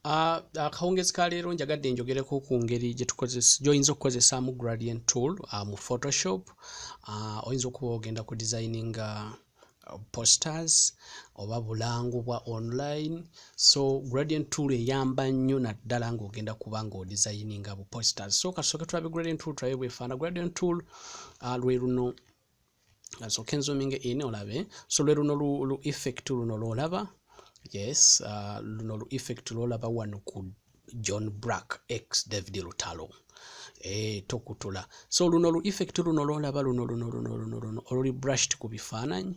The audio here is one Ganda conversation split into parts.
akawungezi ah, ah, ka leero njagadde njogereko ku ngeri gyoyinza okukozesaamu gradient tool ah, mu photoshop oyinza okuba ogenda ku designinga posters oba bulango bwa online so gradient tool eyamba nnyo naddala ngaogenda kuba nga odesigninga bu posters so kasooke tulabe gradient tool tulabe bwefaana gradient tool lwe luno asooke nzuminga in olabe so lwe luno lu effect luno lwolaba yes uh, luno lu effect lwolaba wano ku john brack x david lutalo eh, tokutula so luno lu effect luno lwolaba luno luno luno luno luno oluli brushed ku bifaananyi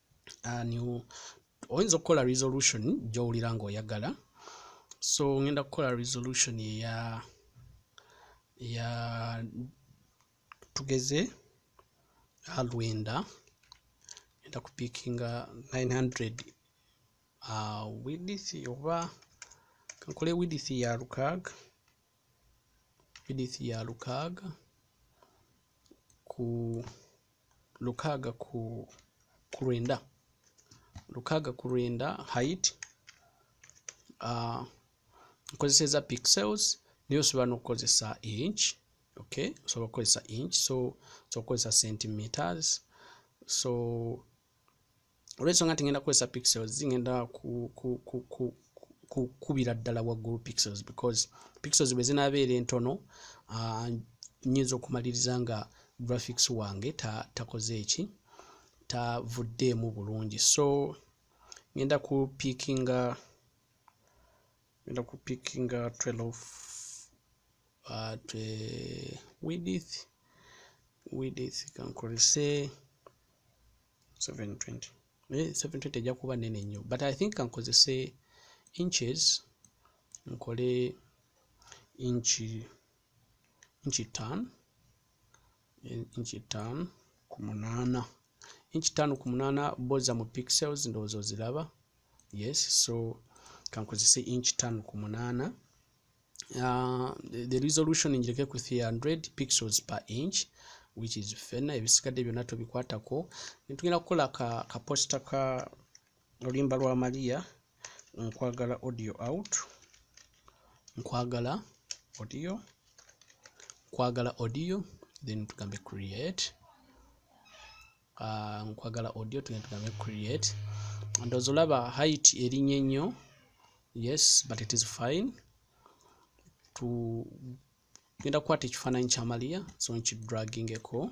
oyinza okukola resolution gyowulira ngaoyagala so ngenda kukola resolution eya ya tugeze alwenda ngenda kupikinga 900 uh, width oba kankole width ya lukaaga width ya lukaaga ku lukaaga ku ku lwenda lukaaga ku lwenda height uh, nkozeseza pixels naye osobola n'okukozesa inch okay osobola okukozesa inch so osobola okukozesa centimeters so olwensonga nti ngenda kukozesa pixels ngenda kukubira ddala waggulu pixels because pixels bwe zinabeera entono ah, nyinza okumaliriza nga graphics wange takoze eki tavuddeemu bulungi so ngenda ku pikinga ngenda ku pickinga 12 at uh, widith widith kankolese 720 naye 720 ejja kuba nene nnyo but i think kankozese inches nkole inchi inchi tan inch ttaano ku munaana inch ttaano ku munaana boza mu pixels ndowooza oziraba yes so kankozese inch ttaano ku munaana uh, the, the resolution njireke ku 300 pixels per inch which is fena ebisigadde byonna tobikwatako netugenda kukola ka, ka posta ka olimba lwa maria nkwagala audio out nkwagala audio nkwagala audio then tugambe create uh, nkwagala audio tugenda tugambe create ndowooza olaba height erinye nnyo yes but it is fine tugenda kukwata ekifaananyi kya maria so nkidragingeko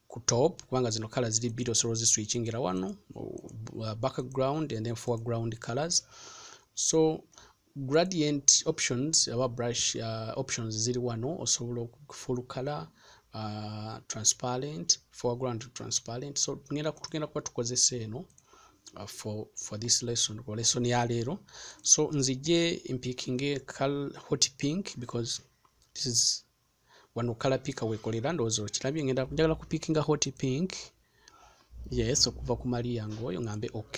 ku top kubanga zino colors ziri bbiri osobola oziswitchingira wano uh, background and then foreground colors so gradient options aba brush uh, options ziri wano osobola full color uh, transparent foreground transparent so tugenda tugenda kuba tukozesa eno uh, for for this lesson or lesson ya leero so nzije mpikinge hot pink because this is wano kala pika wekolera ndowooza okirabye ngenda njagala ku pikinga hot pink yes okuva ku maria ngaoyo ngambe ok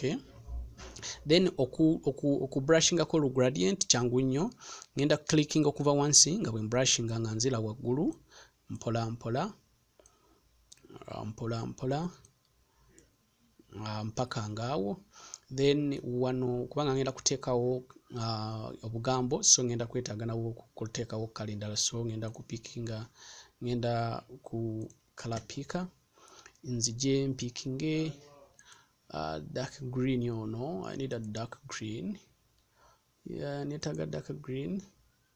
then oku, oku, oku brushingako lu gradient kyangu nnyo ngenda clicking okuva wansi nga bwe mbrushinga nga nzira waggulu mpola mpola mpola mpola uh, mpaka ngaawo then wano kubanga ngenda kuteekawo uh, obugambo so ngenda kwetaaga nawo okuteekawo kala endala so ngenda kupikinga ngenda ku kala piika nzije mpikinge uh, dark green ono i need a dark green yeah, netaga dark green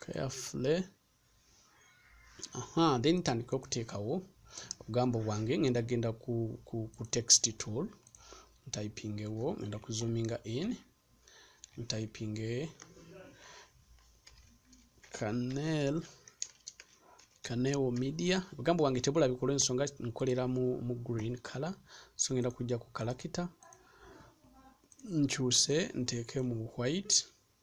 carefully aha then tandika okuteekawo obugambo bwange ngenda genda ku, ku, ku text tool ntypingewo ngenda kuzoominga in ntypinge canel kanewo media obugambo bwange tebulabika olwensonga nkolera mu, mu green color so ngenda kujja ku kalakita nkyuse nteeke mu white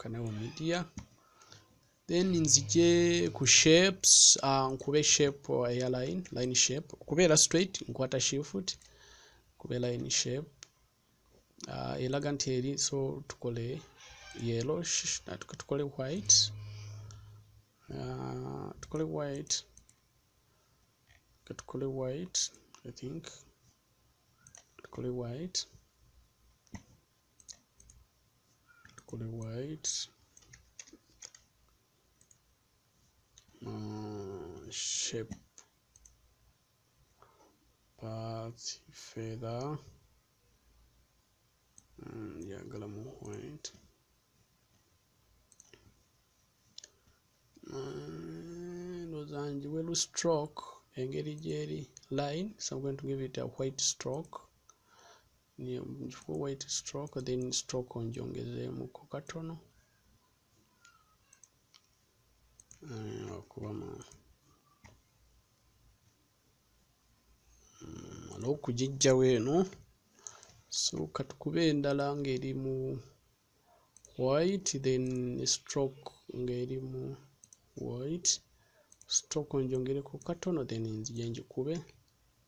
kanawo media then nzije ku shapes uh, nkube shape eya line line shape kubeera straight nkwata shift kube line shape uh, elaga nti eri so tukole yellow tukole white uh, tukole white katukole white i think tukole white tukole white uh, shape part feather njagala mm, mu white ndowooza mm, njiwe lu stroke engeri gyeri line so i'm going to give it a white stroke ngifuka white stroke then stroke onjongezeemuko katono eh, okuba mu mala mm, okugijjawo eno so katukube endala ng'eri mu white then stroke ng'eri mu white stroke onjongereko katono then nzije njikube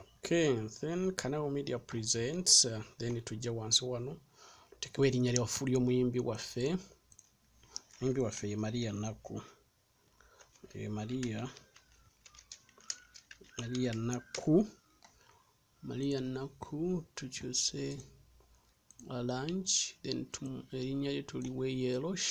okay then kanawo media presents uh, then tujja wansi wano tutekewo erinnya lyafu ly'omuyimbi waffe omuyimbi waffe ye maria nakku ye maria maria nakku maria nakku tukyuse alange then erinnya lye tuli weyelosh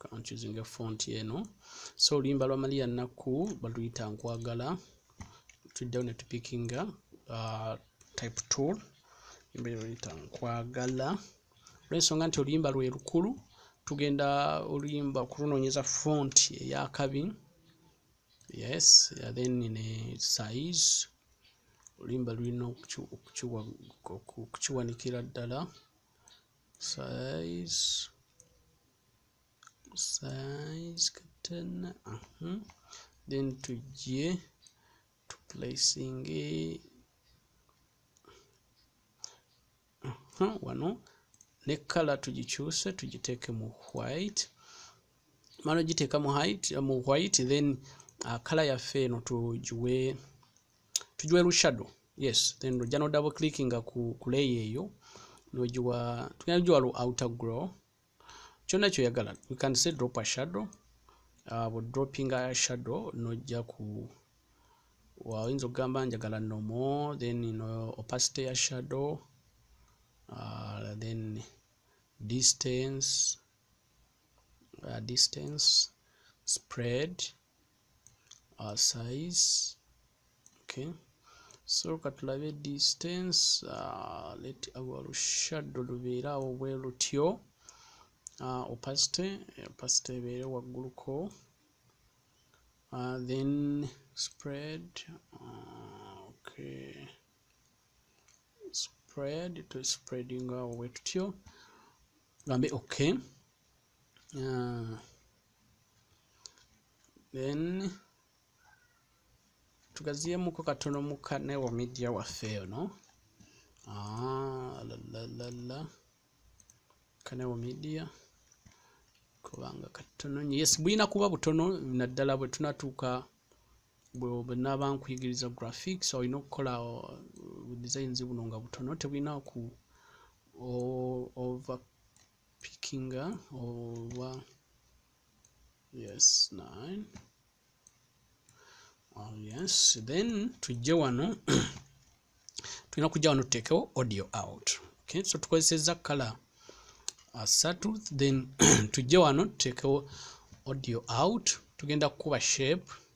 kanchuzinga font eno so oluyimba lwa maria nakku baluyita nkwagala tuddewo ne tupikinga uh, type tool embere baluyita nkwagala olwensonga nti oluyimba lwe lukulu tugenda oluyimba okurunoonyeza font eyakabi yes then ne size oluyimba lulina okukiwanikira ddala size size katana uh -huh. then tujje to placing uh -huh. wano ne kala tugikyuse tugiteeke mu white mala ogiteeka mu height mu white then uh, kala yaffe eno tugiwe tujwa elu shadow yes then ojja no double click nga ku, ku layer eyo nojiwa tugenda kujiwa lu outer grow kyonna kyoyagala you can say drop a shadow uh, bu dropping a shadow nojja ku oyinza okugamba njagala nomo then no opacity ya shadow uh, then distance uh, distance spread uh, size okay so katulabe distance uh, let our shadow lubeera awo bwe lutyo uh, opacity opacity ebeere wagguluko uh, then spread uh, okay spread to spreading awo bwe tutyo gambe okay uh, then tugaziyemuko katono mu kanewo media waffe eyo no ah, lalalala kanewo media kubanga katono nyo yes bulina kuba butono naddala bwe tunatuuka bwenaba nkuyigiriza graphics olina okukola uh, designs buno nga butono tebulina ku over picking over yes 9 oh, yes then tujje wano tulina kujja wano tuteekewo audio out okay so tukozesezza kala asatu uh, then tujje wano tuteekewo audio out tugenda kukuba shape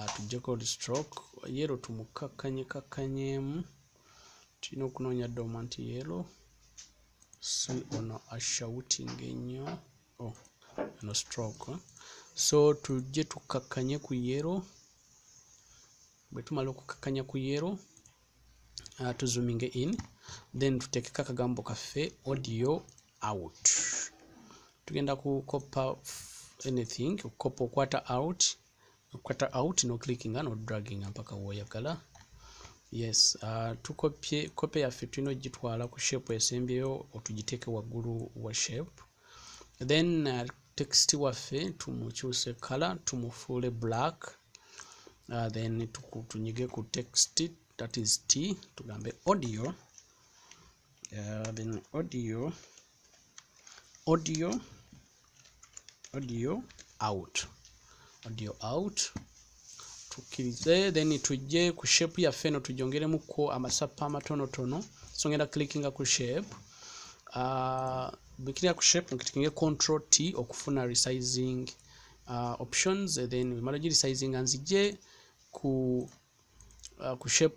atujjeko ah, oli stroke yero tumukakkanye kakkanyeemu tulina okunoonya doma nti yero si ono ashouting ennyo oh, no stroke eh? so tujje tukakkanye ku yero bwe tumala okukakkanya ku yero ah, tuzuminge in then tuteekeko akagambo kaffe audio out tugenda kukoppa anything okukoppa okwata out okata out no clickinga no dragginga mpaka woyagala yes uh, tukopye kope yaffe tulina ogitwala ku shape esembyeyo otugiteeke waggulu wa shape then uh, text waffe tumukyuse kala tumufuule black uh, then tunyige ku text that is t tugambe audio uh, then audio audio audio out audio out tukkirize then tujje ku shape yaffe eno tujongeremuko amasappa amatonotono so ngenda clickinga ku shape uh, bikirira ku shape nkitikinge control t okufuna resizing uh, options then wemala gi resizing nzije ku uh, ku shape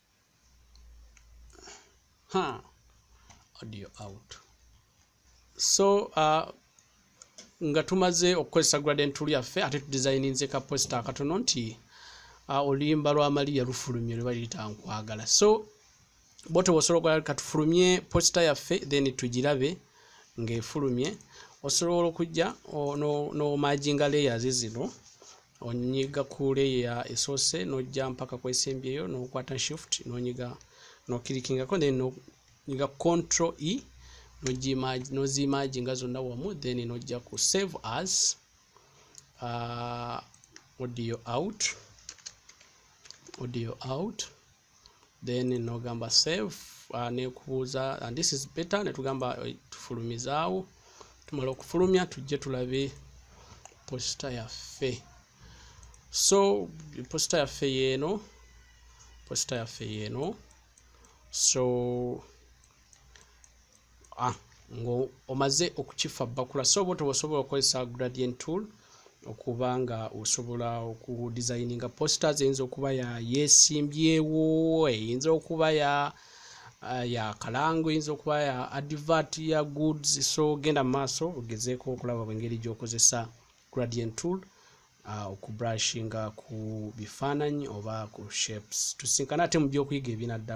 huh. audio out so uh, nga tumaze okukozesa gradient tool yaffe ate tudesigninze ka posta akatono nti uh, oluyimba lwa maliya lufulumye lwe baliyita nkwagala so bote wosobola okwagala katufulumye posta yaffe then tugirabe ng'efulumye osobola okujja nomajinga layers zino onyiga ku leya esoose nojja mpaka kwesembyeyo nokwata shift nonyiga nokirikingako then nonyiga control e nozimaginga zonna wamu then nojja ku save as uh, audio out audio out then nogamba save uh, nekubuuza and this is better netugamba uh, tufulumizaawo tumala okufulumya tujje tulabe posita yaffe so posita yaffe yeeno posita yaffe yeeno so ah, ng'omaze okukiffa bakula so oba tobaosobola okukozesa gradient tool okuba nga osobola okudesigninga posters eyinza okuba ya yesimbyewo eyinza okuba ya eh, ya kalango eyinza okuba ya advert ya goods so genda mu maaso ogezeeko okulaba bwengeri gyokozesa gradient tool ah, okubrushinga ku bifaananyi oba ku shapes tusinkana ate mu byokuyiga ebinadda